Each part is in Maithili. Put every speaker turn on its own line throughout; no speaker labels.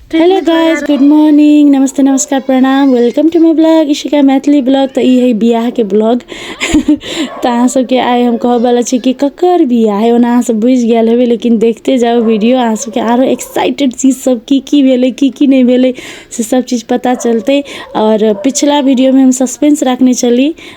हेलो गाइस
गुड मॉर्निंग नमस्ते नमस्कार प्रणाम welcome to my blog Ishika Maithili blog तो ई है बियाह के ब्लॉग तो अहाँ सबके आइ हम कहब वाला छी कि ककर बियाह है ओना अहाँ सब बुझ गया हेबे लेकिन देखते जाओ वीडियो अहाँ सबके आरो एक्साइटेड चीज सब की की भेले की की नहीं भेले से सब चीज पता चलते और पिछला वीडियो में हम सस्पेंस रखने चली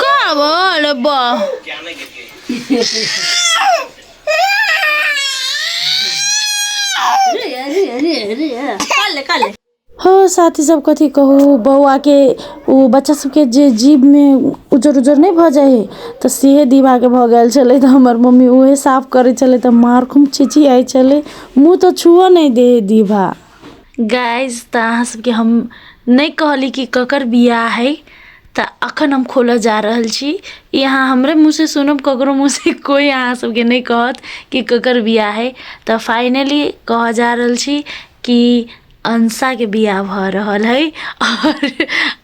का बोल
बा हो साथी सब कथी कहू बौआ के ओ बच्चा सबके जे जीभ में उजर उजर नहीं भऽ जाइ है तऽ सेहे दिवा के भऽ गेल छलै तऽ हमर मम्मी उहे साफ करै छलै तऽ मार खूब चिचियाइ छलै मुँह तऽ छुअ नहि दे है दिभा गाइज
तऽ अहाँ सबके हम नहि कहली कि ककर बियाह है तऽ अखन हम खोलऽ जा रहल छी ई अहाँ हमरे मुँह से सुनब ककरो मुँह से कोई अहाँ सबके नहि कहत कि ककर बियाह है तऽ फाइनली कहऽ जा रहल छी कि अंसाके बियाह भऽ रहल है आओर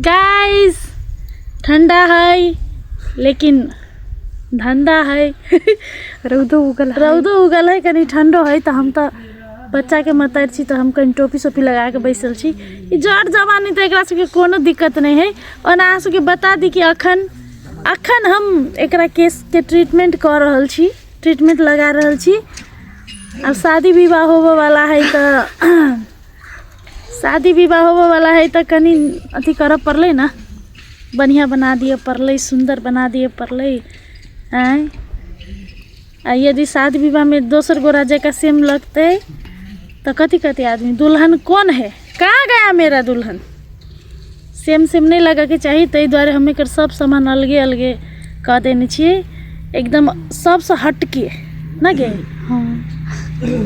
गाइस ठंडा है लेकिन धंधा है रौदो उगल रौदो उगल है कनी ठंडो है तो हम तो बच्चा के मतर छी तो हम कहीं टोपी सोपी लगा के बैसल छी ई जड़ जवानी तो एकरा सबके कोनो दिक्कत नहीं है ओना अहाँ सबके बता दी कि अखन अखन हम एकरा केस के ट्रीटमेंट कर रहल छी ट्रीटमेंट लगा रहल छी अब शादी विवाह होबे वाला है तो शादी विवाह होबे वाला है तो कनी अथी कर पड़ल ना बढ़िया बना दिए पड़ल सुंदर बना दिए पड़ल आय आ यदि शादी विवाह में दोसर गोरा जैका सेम लगते तो कथी कथी आदमी दुल्हन कौन है कहाँ गया मेरा दुल्हन सेम सेम नहि लगैके चाही ताहि दुआरे हम एकर सब सामान अलगे अलगे कऽ देने छियै एकदम सबसँ हटके ने गे हँ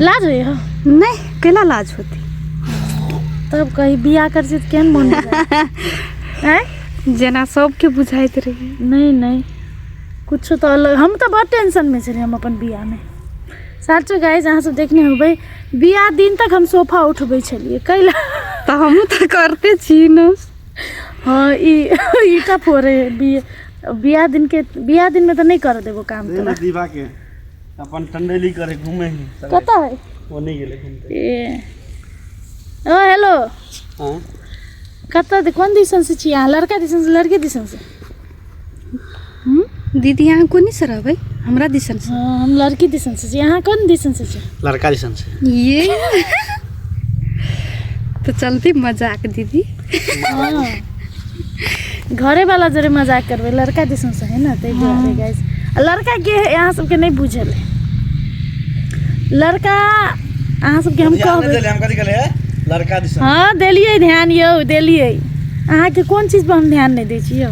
लाज होइए हँ नहि केना
लाज होतै
तब कही बियाह कर छी तऽ केहन मोन आँय
जेना सबके बुझाइत रहै नहि नहि
किछु तऽ अलग हम तऽ बड़ टेंशनमे छलियै हम अपन बियाहमे साचो गाइज अहाँ सब देखने होबै बियाह दिन तक हम सोफा उठबै छलियै कैला तऽ हमहूँ तऽ
करते छी ने हँ
ई ईटा फोड़े बियाह बियाह दिन के बियाह दिन में तऽ नहि कर देबो काम दे ना दीवा के
अपन टंडेली करे घूमे ही सगरे। कतऽ है वो नहीं
गेले घूमते ए
ओ हेलो हाँ
कतऽ दे- कोन दिसन से छी अहाँ लड़का दिसन से लड़की दिसन से
दीदी अहाँ कोनी से रहबै हमरा दिसन से हाँ, हम लड़की दिसन
से छी अहाँ कोन दिसन से छी लड़का दिसन से
ये
तो चलती मजाक दीदी हाँ।
घरे वाला जरे मजाक करबे लड़का दिसन से है ना ते दुआरे गाइस लड़का के है यहाँ सबके नहीं बुझल है लड़का अहाँ सबके हम कहबै
हम कथी कहलियै लड़का दिस हाँ
देलियै ध्यान यौ देलियै अहाँ के कोन चीज पर हम ध्यान नहीं दै छी यौ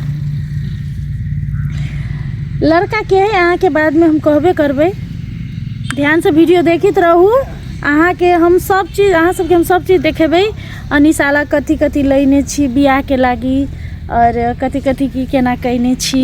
लड़का के है अहाँ के बाद में हम कहबे करबै ध्यान से वीडियो देखित रहू अहाँ के हम सब चीज अहाँ सबके हम सब चीज देखेबै अनिशाला कथी कथी लेने छी बियाह के लागी और कथी कथी की केना कयने छी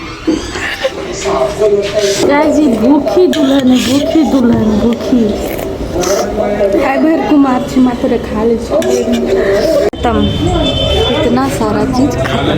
जी भूखी दुल्हन भूखी दुल्हन भूखी
है भर कुमार छी मात्र खा ले खत्म इतना सारा चीज खत्म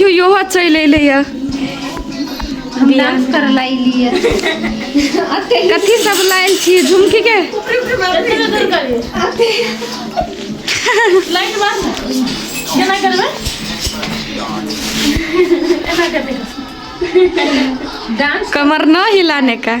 यो यो चैले लिया हम डांस कर लाई लिए कथी सब लाइल छी झुमकी के लाइट बार केना करबे
एना करबे डांस कमर न हिलाने
का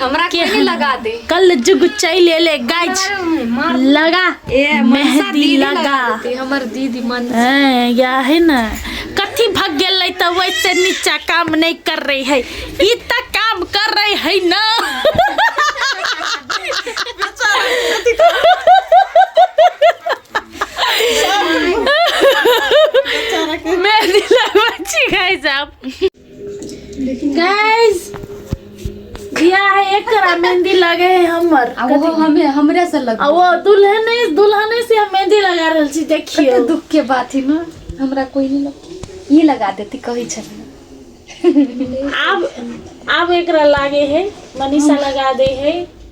हमरा के के लगा
दे कल जुग चल
ले गाइज लगा मेहंदी लगा देती, हमर दीदी
मन हैं, या है
ना कथी भग गेलै तऽ वैसे नीचा काम नहीं कर रही है ई तऽ काम कर रही है ना मेहंदी लगबै छी गाइज आप गाइस बिया है एक करा मेहंदी लगे है हमर आ वो हमें हमरा
से लग आ वो दुल्हन है
दुल्हन से हम मेहंदी लगा रहल छी देखियो कते दुख के बात है ना
हमरा कोई नहीं लग ये लगा देती कही छे अब
अब एकरा लागे है मनीषा लगा दे है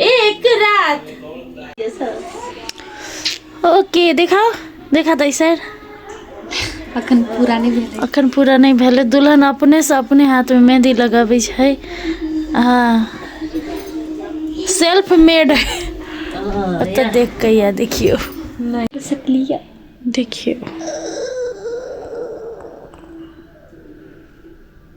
एक रात ओके देखाओ देखा दै सर अखन पूरा
नहि भेलै अखन पूरा नहि भेलै दुल्हन अपनेसँ
अपने हाथमे मेहंदी लगबै छै हँ सेल्फ मेड ओतऽ देख कऽ या देखियौ नहि
सकलियै देखियौ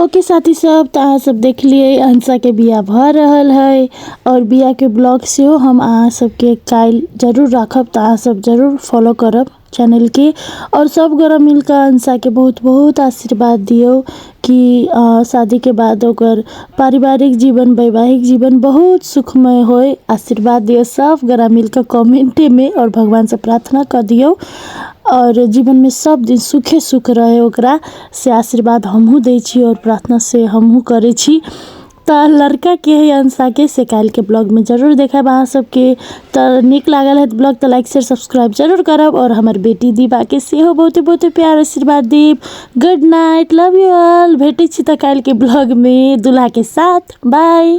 ओके साथी सब तऽ अहाँ सब देखलियै अंसा के बियाह भऽ रहल है और बियाह के ब्लॉग सेहो हम अहाँ सबके काल्हि जरूर राखब तऽ अहाँ सब जरूर फॉलो करब चैनल के और सब गोरा मिलकऽ अंसा के बहुत बहुत आशीर्वाद दियौ कि अ, शादी के बाद ओकर पारिवारिक जीवन वैवाहिक जीवन बहुत सुखमय होय आशीर्वाद दियौ सब गोरा मिलकऽ कमेंटे में और भगवान से प्रार्थना कर दियौ और जीवन में सब दिन सुखे सुख रहे ओकरा से आशीर्वाद हमहूँ दै छी आओर प्रार्थना से हमहूँ करै छी तऽ लड़काके हइ अंशाके से काल्हिके ब्लॉगमे जरूर देखायब अहाँ सबके तऽ नीक लागल हैत ब्लॉग तऽ लाइक शेयर सब्सक्राइब जरूर करब आओर हमर बेटी दीपाके सेहो बहुते बहुते प्यार आशीर्वाद देब good night love you all भेटै छी तऽ काल्हिके ब्लॉगमे दुल्हाके साथ बाय